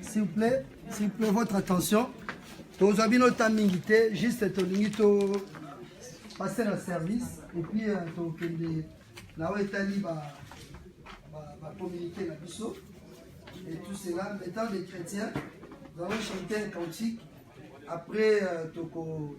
S'il vous plaît, s'il vous plaît, votre attention. tozwa bino ta mingi te juste tolingi to passe na service epuis euh, tokende na oyo etali bacommunike na biso et tout cela étant des chrétiens nous allons chanter un cantique après euh, tokokende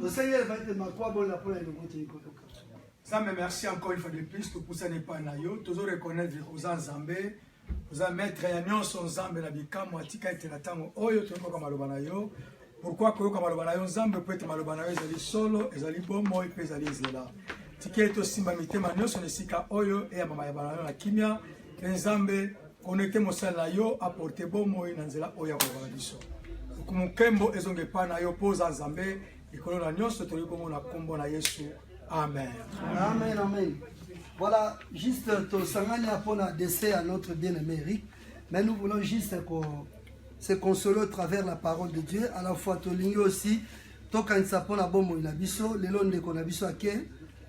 Tosengi elba ete makwa bona mpo na eloko te ekoyoka. Zambe merci encore une fois de plus topusani epai na yo tozo reconnaître oza nzambe oza maître ya nyonso nzambe na bikamwa atika ete na ntango oyo toyokoka maloba na yo pourkui koyoka maloba na yo nzambe mpo ete maloba na yo ezali solo ezali bomoi mpe ezali nzela tika ete osimba mitema nyonso na esika oyo eyamba mayaba na yo na kimia mpe nzambe Connecte mosali na yo aporte bomoi na nzela oyo ya koloba na biso. Lokumu nkembo ezonga epai na yo mpo oza Nzambe likolo na nyonso. Toyebi bongo na nkombo na Yesu, amen. Amen, amen. Voilà, juste tosangani mpo na décès à notre bien-aimé Eric, mais nous voulons juste qu'on se consoler au travers la parole de Dieu. À la fois, tolingi aussi tokanisa mpo na bomoi na biso lelo ndeko na biso ake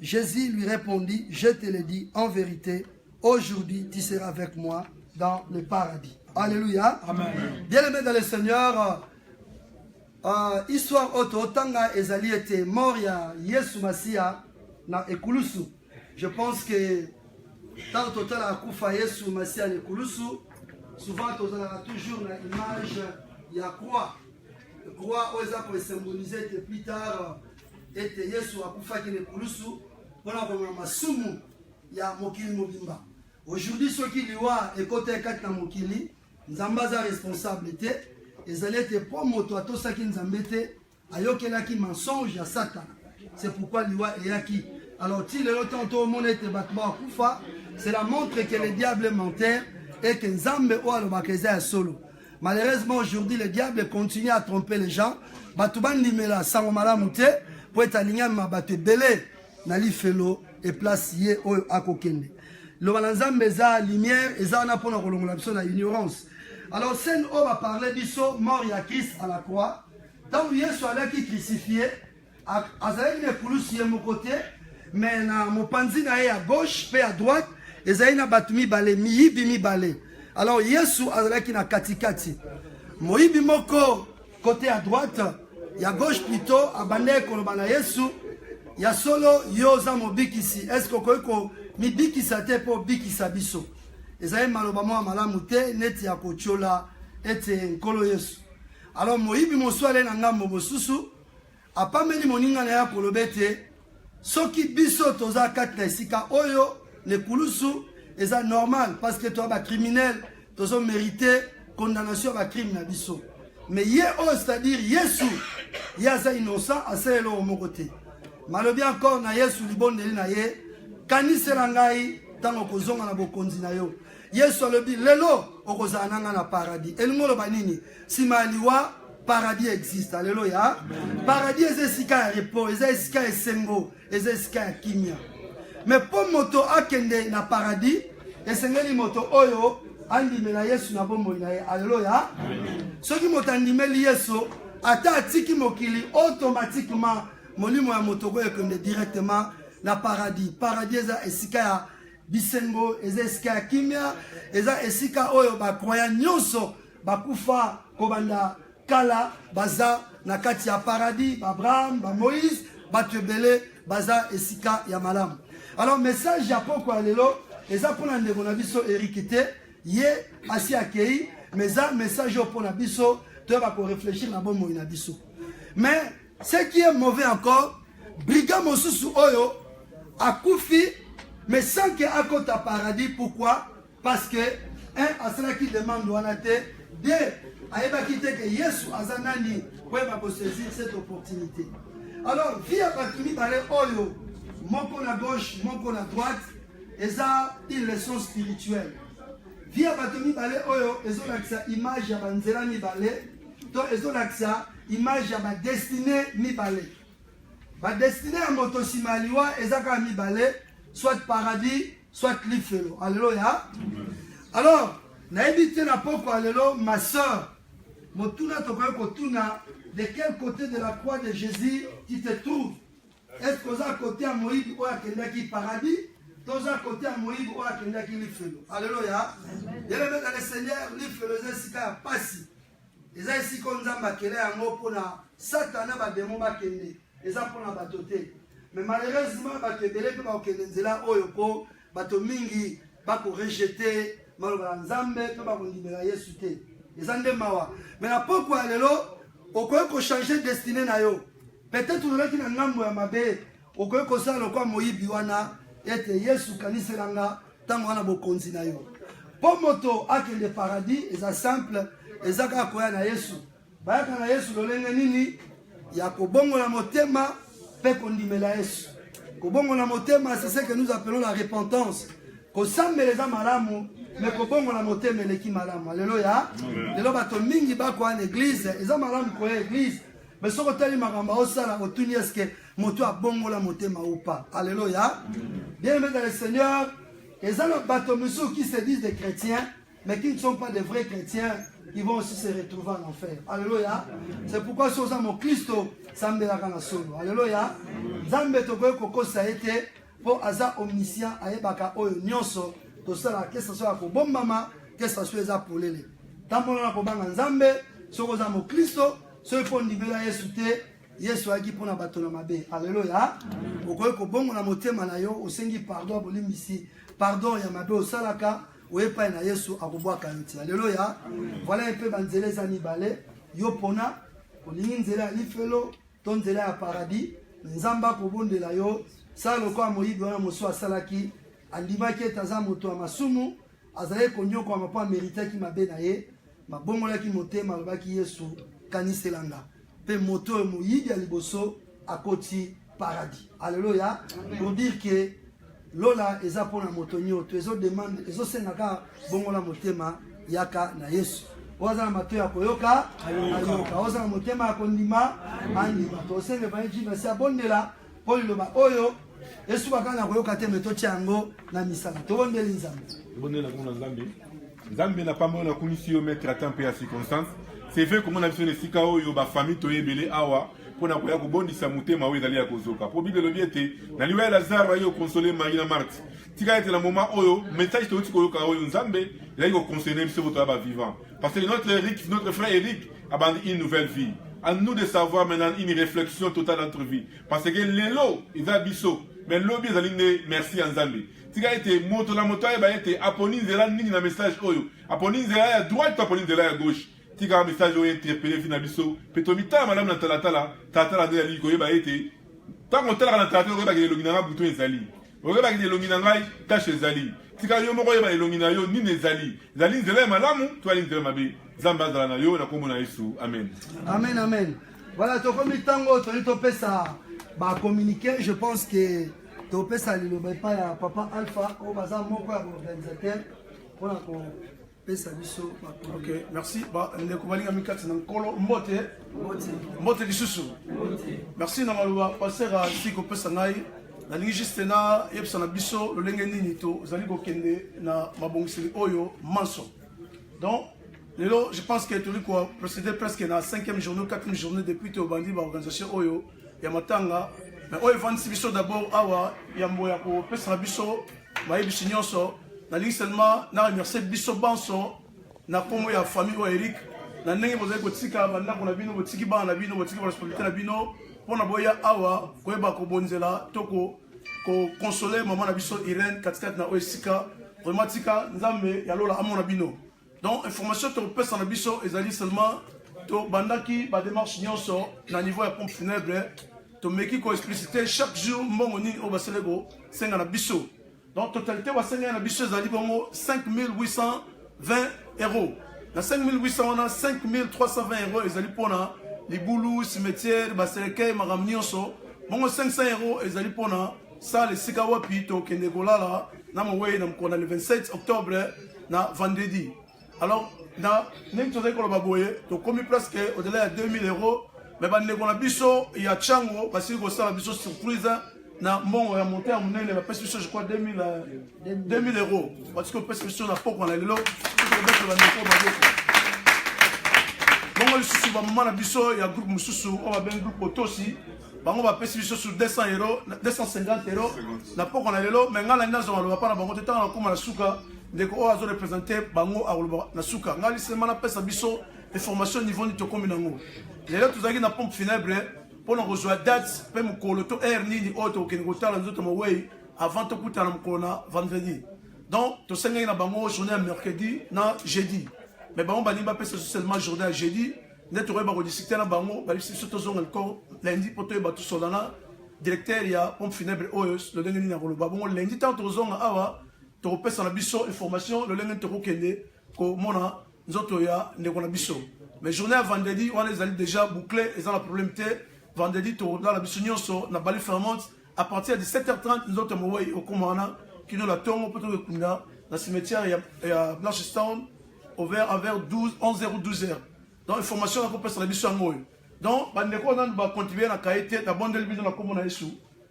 Jesus lui répondit, Je te le dis en vérité, aujourd'hui tu seras avec moi dans le paradis. Alléluia. Amen. Bien-aimé dans le Seigneur, euh, euh histoire auto tanga ezali ete mort ya Yesu Masiya na ekulusu. Je pense que ntango totalaka kufa Yesu Masiya na ekulusu, souvent tozalaka toujours na image ya croix. Croix oyo eza kosymbolize ete plus tard ete Yesu akufaki na ekulusu mpo na komema masumu ya mokili mobimba. Aujourd'hui soki liwa ekotaki kati na mokili, Nzambe aza responsable te. Ezali ete mpo moto atosaki Nzambe te, ayokelaki mensonge ya Satana. C'est pourquoi liwa eyaki. Alors ti lelo ntango tomona ete bato bakufa, cela montre que le diable menteur et que Nzambe oyo alobaka eza ya solo. Malheureusement aujourd'hui le diable continue à tromper les gens. Bato bandimela sango malamu te mpo ete alingami ma bato ebele na lifelo e place ye oyo akokende. Loba na Nzambe eza lumière eza wana mpo na kolongola biso na ignorance. Alors scène oyo ba parler biso mort ya Christ à la croix ntango Yesu alaki crucifie Azalaki na ekulusu ye moko te, me na mopanzi na ye ya gauche mpe ya droite ezali na bato mibale, miyibi mibale. Alors Yesu azalaki na katikati, moyibi moko kote ya droite ya gauche plutôt abandaki koloba na Yesu, ya solo yo oza mobikisi, eske okoki komibikisa te mpo obikisa biso? Ezali maloba mwa malamu te neti ya kotyola ete nkolo Yesu. Alors moyibi mosusu ale na ngambo mosusu Apameli moninga na ye akoloba ete soki biso toza kati na esika oyo na ekulusu eza normal parce que toza bacriminel tozo merite condamnation ya bacrime na biso mais ye oyo c'est-à-dire yesu ye aza innocent asala eloko moko te malobi encore na yesu libondeli na ye kanisela ngai ntango okozonga na bokonzi na yo yesu alobi lelo okozala na ngai na paradis elingi oloba nini Sima ya liwa paradis existe aleloya paradis eza esika ya repos eza esika ya esengo eza esika ya kimia me mpo moto akende na paradis esengeli moto oyo andimela yesu na bomoi na ye aleloya soki moto andimeli yesu ata atiki mokili automatiquement molimo ya moto okoyo ekende directement na paradis paradis eza esika ya bisengo eza esika ya kimia eza esika oyo bakroya nyonso bakufa kobanda kala baza na kati ya paradis baabraham bamoïse bato ebele baza esika ya malamu alors message ya poko ya lelo eza mpo na ndeko na biso eriki te ye asi akei mais eza message oyo mpo na biso toyeba koreflechir na bomoi na biso mais ce qui est mauvais encore briga mosusu oyo akufi mais sans ke akota paradis pourquoi Parce que un asalaki demande wana te, deux ayebaki te que Yesu aza nani po yeba ko saisir cette opportunité. Alors vie ya bato mibale oyo moko na gauche moko na droite eza une leçon spirituelle. Vie ya bato mibale oyo ezolakisa image ya banzela mibale to ezolakisa image ya badestine mibale. Badestine ya moto nsima ya liwa eza kaka mibale, soit paradis soit lifelo aleloya alors nayebi te na poko alelo ma soeur motuna tokoki kotuna de quel côté de la croix de jésus tu te trouves est ce que oza kote ya moyibi oyo akendaki paradis toza kote ya moyibi oyo akendaki lifelo aleloya yelebeka le seigneur lifelo eza esika ya mpasi eza esika oyo nzambe akela yango mpona satana na bademo bakende eza mpona bato te me malheureusement bato ebele mpe bakokende nzela oyo mpo bato mingi bakorejete maloba ya nzambe mpe bakondimela yesu te eza nde mawa me na pokwa ya lelo okoki kochange destine na yo peut-être ozalaki na ngambo ya mabe Okoki kosala lokola moyibi wana ete Yesu kanisela nga ntango wana bokonzi na yo. Mpo moto akende paradis eza simple, eza kaka koya na Yesu. Bayaka na Yesu lolenge nini? Ya kobongola motema mpe kondimela Yesu. Kobongola motema c'est ce que nous appelons la repentance. Kosambela eza malamu me kobongola motema eleki malamu. Aleluya. Lelo bato mingi bakoya na eglise, eza malamu koya eglise Mais soki otali makambo aosala otuni eske moto abongola motema ou pas. Alléluia. Bien aimé dans le Seigneur, eza na bato mosusu qui se disent des chrétiens mais qui ne sont pas des vrais chrétiens ils vont aussi se retrouver en enfer. Alléluia. C'est pourquoi si oza mokristo sambelaka na solo. Alléluia. Nzambe tokoki kokosa ye te mpo aza omniscient ayebaka oyo nyonso tosalaka ke saso ya kobombama ke saso eza polele tambola na kobanga nzambe soki oza mokristo soki mpo ondimela yesu te yesu ayaki mpo na bato na mabe aleluya okoki kobongola motema na yo osengi pardon ya bolimbisi pardon ya mabe osalaka oye epai na yesu akobwaka yo ti aleluya vala mpe banzela eza mibale yo pona olingi nzela ya lifelo to nzela ya paradis nzambe akobondela yo sala lokola moyibi wana mosusu asalaki andimaki ete aza moto ya masumu Azalaki konyokwama mpo ameritaki mabe na ye, mabongolaki motema, alobaki Yesu, kanisela nga. Mpe moto oyo moyibi ya liboso akoti paradis. Aleluya. Pour dire que lola eza mpo na moto nyoto, ezo demande, ezosenga kaka bongola motema, yaka na Yesu. oza na mato ya koyoka ayoka, oza na motema ya kondima andima. Tosenge evangelii vasi abondela Mpo liloba oyo esuka kaka na koyoka te me totya yango na misala tobondeli nzambe tobondeli na komona nzambe nzambe na pamba oyo nakumisi yo maître ata mpe ya circonstance c'est vrai komona biso na esika oyo bafamille toye ebele awa mpo na koya kobondisa motema oyo ezali ya kozoka mpo bible elobi ete na liwa ya lazaro aye kokonsole mai na marte tika ete na moma oyo message touti koyoka oyo nzambe ezali kokonsole biso botoya bavivant Parce que notre Eric, notre frère Eric, a bandi une nouvelle vie. À nous de savoir maintenant une réflexion totale de notre vie. Parce que lelo, il va biso. Mais lobi ezali nde merci à Nzambe. Tika ete moto na moto ayeba ete aponi nzela nini na message oyo. Aponi nzela ya droite to aponi nzela ya gauche. Tika message oyo interpelle vie na biso. Pe tomitala malamu na talatala. Talatala nde yali koyeba ete ntango otalaka na talatala okoyeba ke elongi na nga butu ezali. Oyebaki te elongi na ngai tache ezali. Tika yo moko oyeba elongi na yo nini ezali. Ezali nzela ya malamu to ezali nzela mabe? Nzambe azala na yo na kombo na Yesu. Amen. Amen, amen. Voilà, tokomi tango toli topesa ba communiquer, je pense que topesa liloba epai ya papa Alpha oyo baza moko ya organisateur mpona ko pesa biso makolo ok merci ba ndeko balingami kati na nkolo mbote mbote lisusu merci na maloba paster asili kopesa ngai nalingi juste nayebisa na biso lolenge nini tozali kokende na mabongiseli oyo manso donc lelo je pense que toli koprocéder presque na 5e journée 4e journée depuis tobandi baorganisation oyo ya matanga mais oyo efandisi biso d'abord awa yambo ya kopesa na biso mayebisi nyonso nalingi seulement na remercie biso banso na nkombo ya famille oyo eric na ndenge bozali kotika bandako na bino botiki bana na bino botiki baresponsabilité na bino mpo na boya awa koyeba kobonzela to kokonsole mama na biso irene katikati na oyo esika vraiment tika nzambe ya lola amona bino Donc information tokopesa na biso ezali seulement tobandaki bademarche nyonso na niveau ya pompe funèbre tomeki koexplicite chaque jour mbongo nini oyo basele kosenga na biso donc totalité basengeli na biso ezali bongo 5820 euros na 5800 wana 5320 euros ezali mpona libulu cimetière baselekei makambo nyonso bongo 500 euros ezali mpona Salle esika wapi tokende kolala na mowei na mokolo na le 27 octobre na vendredi alors na ndenge tozali koloba boye tokomi presque au-delà ya 2000 euros me bandeko na biso ya chango basili kosala biso surprise na mbongo ya monta ya monene bapesi biso je crois 2000 euh, euros batiki kopesa biso na pokwa na lelo tokobeta bandeko maboko bongo lisusu bamama na biso ya groupe mosusu oyo babengi groupe otosi bango bapesi biso su 200 euro 250 euro na poko na lelo me ngai nani nazwa maloba mpa na bango te ntango nakoma na suka ndeko oyo azo represente bango akoloba na suka ngai lisema napesa biso information niveau nini tokomi nango lelo tozalaki na pompe funèbre mpo na kozwa date mpe mokolo to heure nini oyo tokokende kotala nzoto mowei avant tokutana mokolo na vendredi donc tosengaki na bango journée ya mercredi na jeudi mais bango balingi bapesa biso seulement journée ya jeudi nde tokoyeba kodiscute na bango balisi biso tozonga likolo lundi mpo toyeba tosola na directeur ya pompe funèbre oyo lolenge nini akoloba bongo lundi ntango tokozonga awa tokopesa na biso information lolenge nini tokokende komona nzoto ya ndeko na biso mais journée ya vendredi wana ezali déjà boucle eza na problème te vendredi tolala biso nyonso na bali fermante à partir ya 17h30 nzoto ya mowei okomaka na kino na ntongo mpo tokekunda na cimetière ya, ya blanchestown over envers 12 11h ou 12h donc information nakopesa na biso yango oyo donc bandeko nanu bacontribue na kaye te nabondeli bino na nkombo na yesu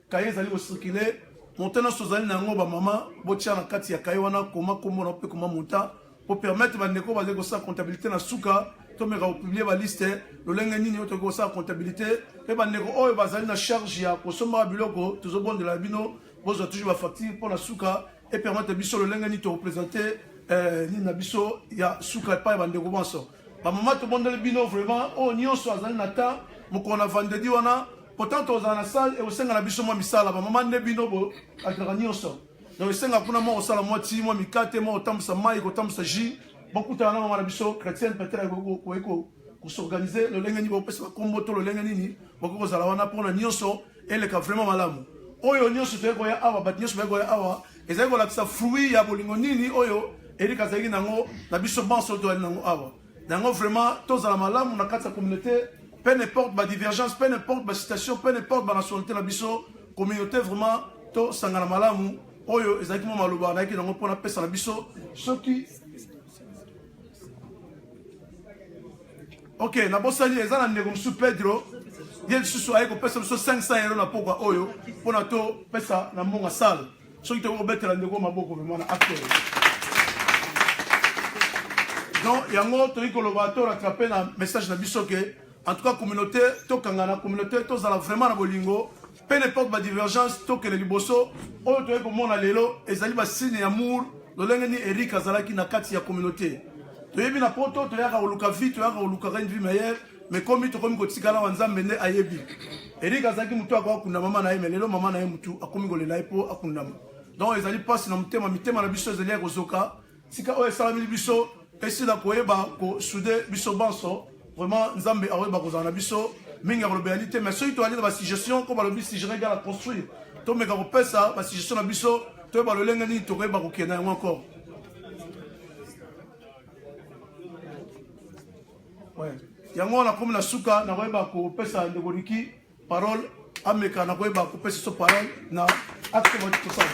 kaye ezali kocircule monta nyonso ozali na yango bamama botia na kati ya kaye wana koma nkombo na mpe koma monta pour permettre ba ndeko bazali kosala comptabilité na suka tomeka kopublie baliste lolenge nini oyo tokoki kosala comptabilité mpe bandeko oyo bazali na charge ya kosombaka biloko tozobondela bino bozwa toujours bafacture mpo na suka epermete biso lolenge nini torepresente eh, nini na biso ya suka epai ya bandeko banso bamama tobondeli bino vraiment oyo nyonso azali na temps mokolo na vendredi wana pourtant tozala na salle ekosenga na biso mwa misala bamama nde bino bokalaka nyonso donc esenga kuna mwa kosala mwa ti mwa mikate mwa kotambwisa mai kotambwisa jus bokutana na mama na biso chrétienne peut-être koki kosorganize lolenge nini bopesa bakombo to lolenge nini bokoki kozala wana mpona nyonso eleka vraiment malamu oyo nyonso toyei koya awa bato nyonso bayei koya awa ezali kolakisa fruit ya bolingo nini oyo erika azalaki nango na biso banso toyali nango awa Yango vraiment tozala malamu na kati ya communauté, peu n'importe ba divergence, peu n'importe ba situation, peu n'importe ba nationalité na biso, communauté vraiment to sangana malamu. Oyo ezalaki mo maloba na yaki nango pona pesa na biso soki Ok, na bosali eza na ndeko mosusu Pedro ye lisusu aye kopesa biso 500 euro na pokwa oyo mpo na topesa na mbongo ya sale soki tokoki kobetela ndeko maboko vraimen na acteur donc yango toyei koloba to rattrape na message na biso ke en tout cas communauté tokangana communauté tozala vraiment na bolingo peu n'importe badivergence tokende liboso oyo toyei komona lelo ezali basigne ya mour lolenge nini eric azalaki na kati ya communauté toyebi na poto toyaka koluka vie toyaka kolukaka une vie meilleure me komi tokomi kotikala awa nzambe nde ayebi erik azalaki motu akoka kunda mama na ye me lelo mama na ye motu akomi kolela ye mpo akundama donc ezali mpasi na motema mitema na biso ezali ya kozoka tika oyo esalameli biso esila koyeba kosude biso banso vraiment nzambe akoyeba kozala na biso mingi ya kolobela ni te mais soki toyali na basuggestion ko balobi suggere gala construire tomeka kopesa basuggestion na biso toyeba lolenge nini tokoyeba kokenda yango encore yango wana komi na suka nakoyeba kopesa ndeko riki parole ameka nakoyeba kopesa so parole na acte tosala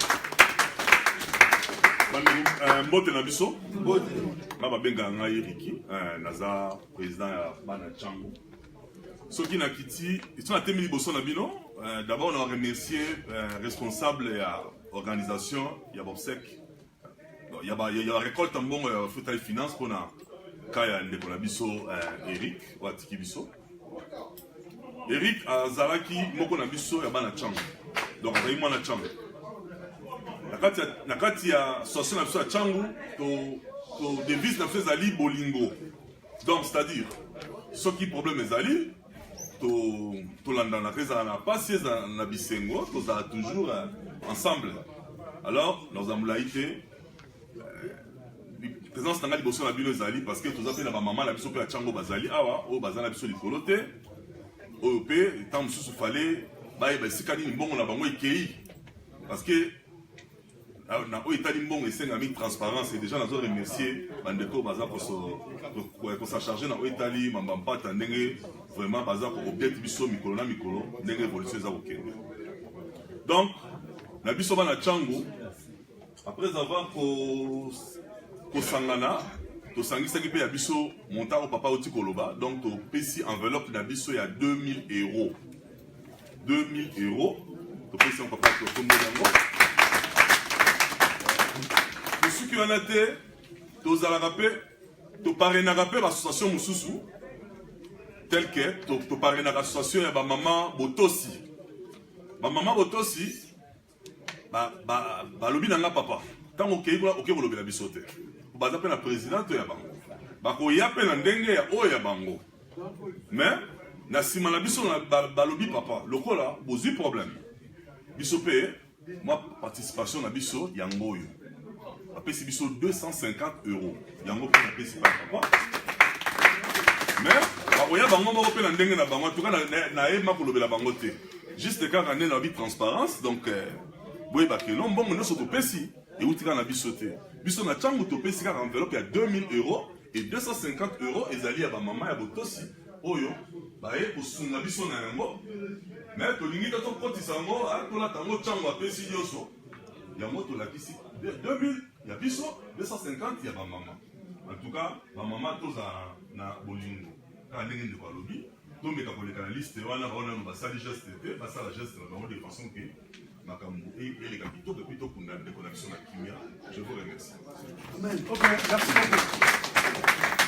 euh, mbote na biso nga babengaka ngai riki euh, naza président ya bana chango soki nakiti so natemi liboso na bino euh, d'abord na remercier responsable ya organisation ya bobsec ya ba ya recolte mbongo ya futa et finance pona ka ya ndeko na biso eh, Eric oyo atiki biso Eric azalaki moko na biso ya bana chambre donc azalaki mwana chambre na kati ya association na biso ya changu to, to devise na biso ezali bolingo donc c'est-à-dire soki problème ezali tolandanaka ezala na mpasi ezala na bisengo tozala toujours euh, ensemble alors naza molai te euh, présence na ngai liboso na bino ezali parce que toza mpe na bamama na biso mpe ya ntango bazali awa oyo baza na biso likolo te oyo mpe ntango mosusu fale bayeba esika nini mbongo na bango ekei parce que Ah, na oyo etali mbongo esengami transparence deja nazo remercier bandeko baza kosacharge na oyo etali mamba mpata ndenge vraiment baza koobjete biso mikolo na mikolo ndenge évolution eza kokende donc na biso bana cango après avoir kosangana tosangisaki mpe ya biso montant oyo papa oti koloba donc topesi enveloppe na biso ya 2000 euros 2000 euros topesi yango papa totomboli yango tosuki wana te tozalaka mpe toparenaka mpe baassociation mosusu tel que toparenaka association ya bamama botosi bamama botosi ba ba balobi na nga papa ntango okei kuna oke kolobela biso te baza mpe na president to ya bango bakoya mpe na ndenge ya oyo ya bango mais na nsima na biso balobi papa lokola bozwi problème biso mpe mwa participation na biso yango oyo bapesi biso 250 euros yango mpe napesi bana bango mais bakoya bango moko mpe na ndenge na bango antuka nayeba kolobela bango te juste kaka nde nabi transparence donc euh, boyeba keno mbongo nyonso topesi euti kaka na biso te biso na ntango topesi kaka enveloppe ya 2000 euros e 250 euros ezali ya bamama ya botosi oyo baye kosunga biso na yango me tolingi te tokotisa yango ah, tolata yango ntango apesi nyonso yango tolakisi 2000 ya biso 250 ya ba mama en tout cas ba mama toza na bolingo kaka ndenge ndeko alobi tomeka koleka na liste wana baona nano basali geste te basala geste na bango de façon que makambo eleka kitoko epuis tokunda ndeko na biso na kimia je vous remercie Amen. Okay, merci beaucoup.